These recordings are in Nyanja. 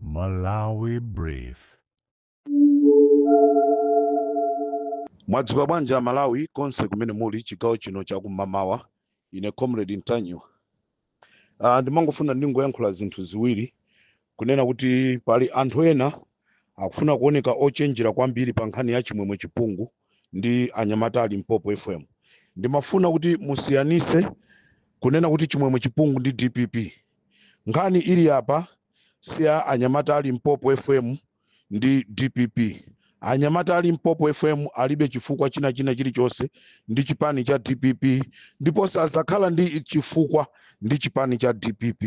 Malawi Brief. mwadzuka bwanji aMalawi konse kumene muli chigawo chino chakum'mamawa ine comrade Ntanyiwa uh, ndimangofuna ndingoyankhula zinthu ziwiri kunena kuti pali anthu ena akufuna kuoneka ochenjera kwambiri pa nkhani ya Chimwemwe Chipungu ndi anyamata a Limpopo FM ndimafuna kuti musiyanise kunena kuti Chimwemwe Chipungu ndi DPP Nkhani ili apa si ya anyamata a Limpopo FM ndi DPP. Anyamata a Limpopo FM alibe chifukwa china china chilichonse ndi chipani cha DPP ndipo sadzakhala ndi chifukwa ndi chipani cha DPP.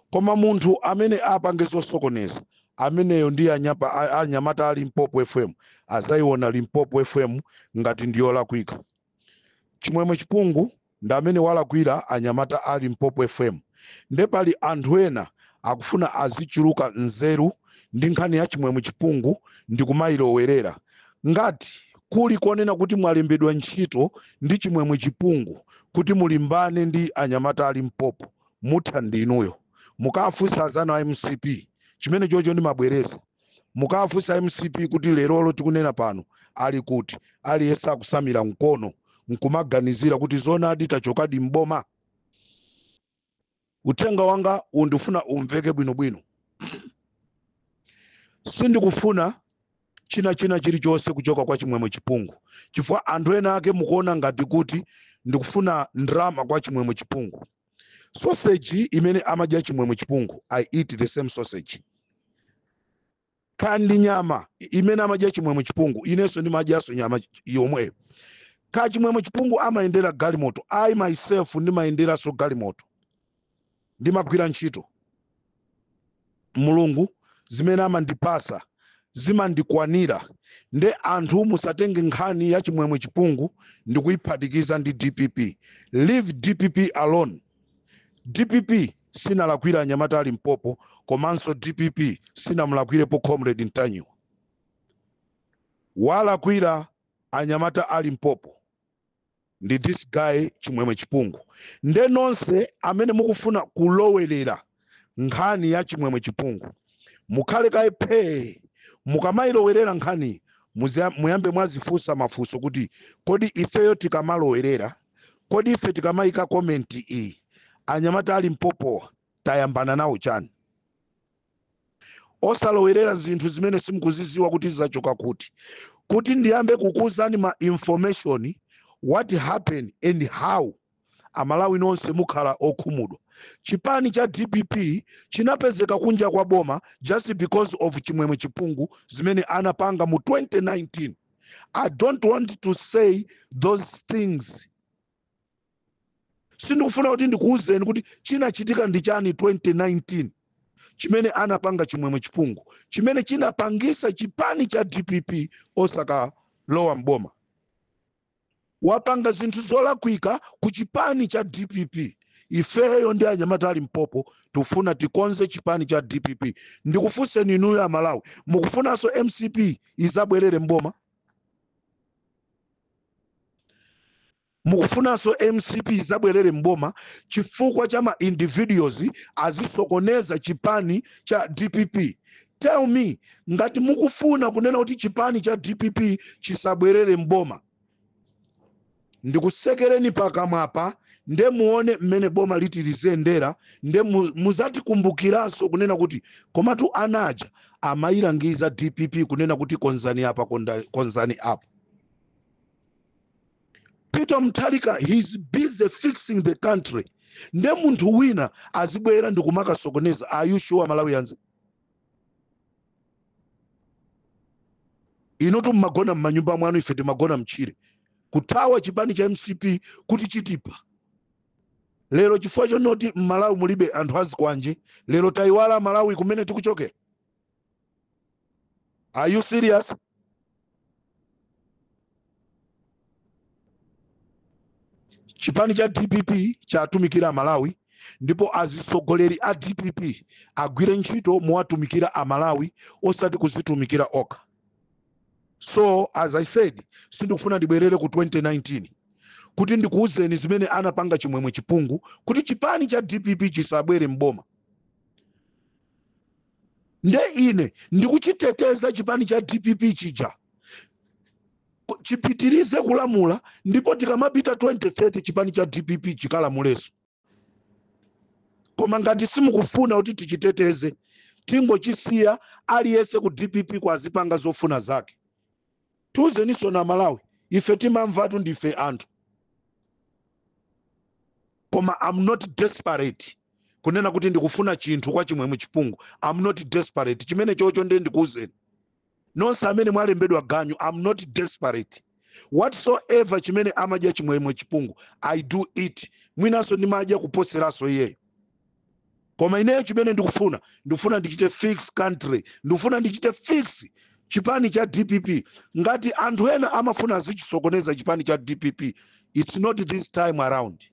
Koma munthu amene apange zosokoneza ameneyo ndi anyapa- a- anyamata a Limpopo FM azayiona Limpopo FM ngati ndiyolakwika. Chimwemwe Chipungu ndi amene walakwira anyamata a Limpopo FM nde pali anthu ena akufuna azichuluka nzeru ndi nkhani ya Chimwemwe Chipungu ndikumayilowerera. Ngati kuli konena kuti mwalembedwa ntchito ndi Chimwemwe Chipungu kuti mulimbane ndi anyamata a Limpopo mutha ndi inuyo. Mukawafunse azanu a MCP chimenechocho ndimabwereza. mukawafunse MCP kuti lerolo tikunena pano ali kuti aliyense akusamira mkono nkumaganizira kuti zonadi tachokadi mboma uthenga wangawu ndifuna umveke bwinobwino sindikufuna china china chilichonse kuchoka kwa Chimwemwe Chipungu chifukwa anthu ena ake mukuona ngati kuti ndikufuna ndrama kwa Chimwemwe Chipungu sausage imene amadya Chimwemwe Chipungu I eat the same sausage kaya ndi nyama i- imene amadya Chimwemwe Chipungu inenso ndimadyanso nyama ch- yomweyo kaya Chimwemwe Chipungu amayendera galimoto I myself ndimayenderanso galimoto ndimagwira ntchito Mulungu zimene amandipasa zimandikwanira nde anthu musatenge nkhani ya Chimwemwe Chipungu ndikuyiphatikiza ndi DPP leave DPP alone DPP sinalakwira anyamata a Limpopo komanso DPP sinamulakwirepo comrade Ntanyiwa walakwira anyamata a Limpopo ndi this guy Chimwemwe Chipungu nde nonse amene mukufuna kulowerera nkhani ya Chimwemwe Chipungu mukhale kaye phee mukamayilowerera nkhani muziya- muyambe mwazifunsa mafunso kuti kodi ifeyo tikamalowerera kodi ife tikamayika komenti iyi anyamata a Limpopowa tayambana nawo chani osalowerera zinthu zimene simukuzidziwa kuti zachoka kuti kuti ndiyambe kukuuzani ma information what happened and how amalawi nonse mukhala okhumudwa chipani cha dpp chinapezeka kunja kwa boma just because of chimwemwe chipungu zimene anapanga mu 2019 i don't want to say those things sindikufuna kuti ndikuwuzeni kuti chinachitika ndi chani 2019 chimene anapanga chimwemwe chipungu chimene chinapangisa chipani cha dpp osakalowa mboma wapanga zinthu zolakwika ku chipani cha dpp ifeyo ndi anyamata a limpopo tikufuna tikonze chipani cha dpp ndikufunseni inuyo amalawi mukufunanso mcp izabwerere mboma mukufunanso mcp izabwerere m'boma chifukwa cha ma individuals azisokoneza chipani cha dpp tell me ngati mukufuna kunena kuti chipani cha dpp chisabwerere m'boma Ndikutsekereni pakamwapa nde muone mmene boma liti liziyendera nde muzatikumbukiranso kunena kuti komatu ana aja amayilangiza dpp kunena kuti konzani apa konzani apa peter mutharika he's busy fixing the country nde munthu wina azibwera ndikumakasokoneza are you sure malawians inutu mmagona mmanyumba mwanu ife timagona mtchire kuthawa chipani cha mcp kuti chitipa lero chifukwa chonoti mmalawi mulibe anthu azikwanje lero tayiwala malawi kumene tikuchokera are you serious chipani cha dpp chatumikira amalawi ndipo azitsogoleri a dpp agwire ntchito mowatumikira amalawi osati kuzitumikira okha so as i said sindikufuna ndibwerere ku 2019 kuti ndikuwuzeni zimene anapanga chimwemwe chipungu kuti chipani cha dpp chisabwere mboma nde ine ndikuchiteteza chipani cha dpp chija chipitirize kulamula ndipo tikamapita 2030 chipani cha dpp chikalamuleso koma ngati simukufuna kuti tichiteteze tingochisiya aliyense ku dpp ko azipanga zofuna zake tiuzeninso amalawi ife timamvatu ndife anthu koma i'm not desperate kunena kuti ndikufuna chinthu kwa chimwemwe chipungu i'm not desperate chimene chocho ndiye ndikuuzeni nonse amene mwalembedwa ganyu i'm not desperate whatsoever chimene amadya chimwemwe chipungu i do it mwinanso ndimadya kuposeranso iyeyo koma ineyo chimene ndikufuna ndikufuna ndichite fix country ndikufuna ndichite fix chipani cha dpp ngati anthu ena amafuna azichisokoneza chipani cha dpp its not this time around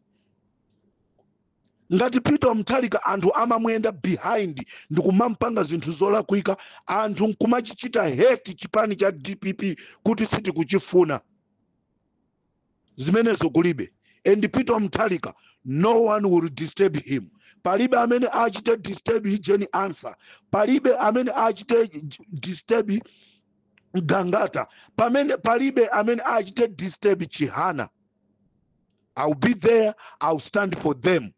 ngati peter mutharika anthu amamuyenda behind ndikumampanga zinthu zolakwika anthu nkumachichita hate chipani cha dpp kuti sitikuchifuna zimenezo kulibe and peter mutharika no one will disturb him palibe amene achite disturb jane ansah palibe amene achite j- disturb gangata palibe amene achite disturb chihana ill be there ill stand for them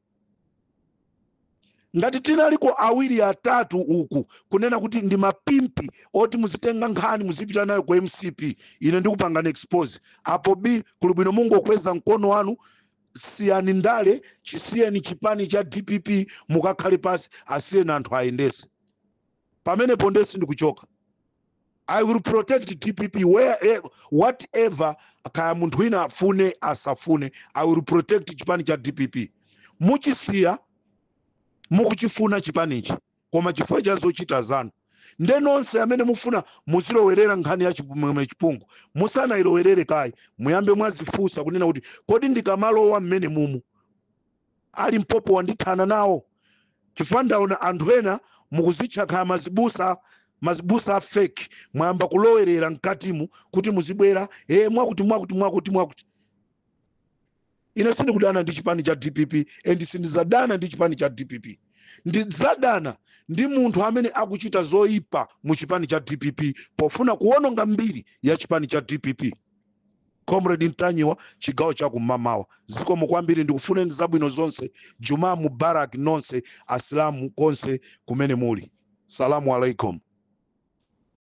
ngati tinaliko awiri atatu uku kunena kuti ndi mapimpi oti muzitenga nkhani muzipita nayo ku mcp ine ndikupangani expose apo b kuli bwino mungokweza mkono wanu siyani ndale chisiyeni chipani cha dpp mukakhale pasi asiyeni anthu ayendese pamenepo nde sindikuchoka i will protect dpp whatever kaya munthu wina afune asafune i will protect chipani cha dpp muchisiya mukuchifuna chipanichi koma chifukwa cha zochita zanu nde nonse amene mufuna muzilowerera nkhani ya chimwemwe chipungu musanayilowerere kayi muyambe mwazifunsa kunena kuti kodi ndikamalowa mmene mumu ali mpopo wandithana nawo chifukwa ndaona anthu ena mukuzitcha kaya mazibusa mazibusa a fake mwayamba kulowerera mkatimu kuti muzibwera e mwakuti mwakuti mwakuti mwakuti ine sindikudana ndi chipani cha dpp and sindizadana ndi chipani cha dpp ndizadana ndi munthu amene akuchita zoyipa mu chipani cha dpp pofuna kuwononga mbiri ya chipani cha dpp comrade ntanyiwa chigawo cha kum'mamawa zikomo kwambiri ndikufuneni zabwino zonse jumaa mubarak nonse asilamu konse kumene muli salamu alaikum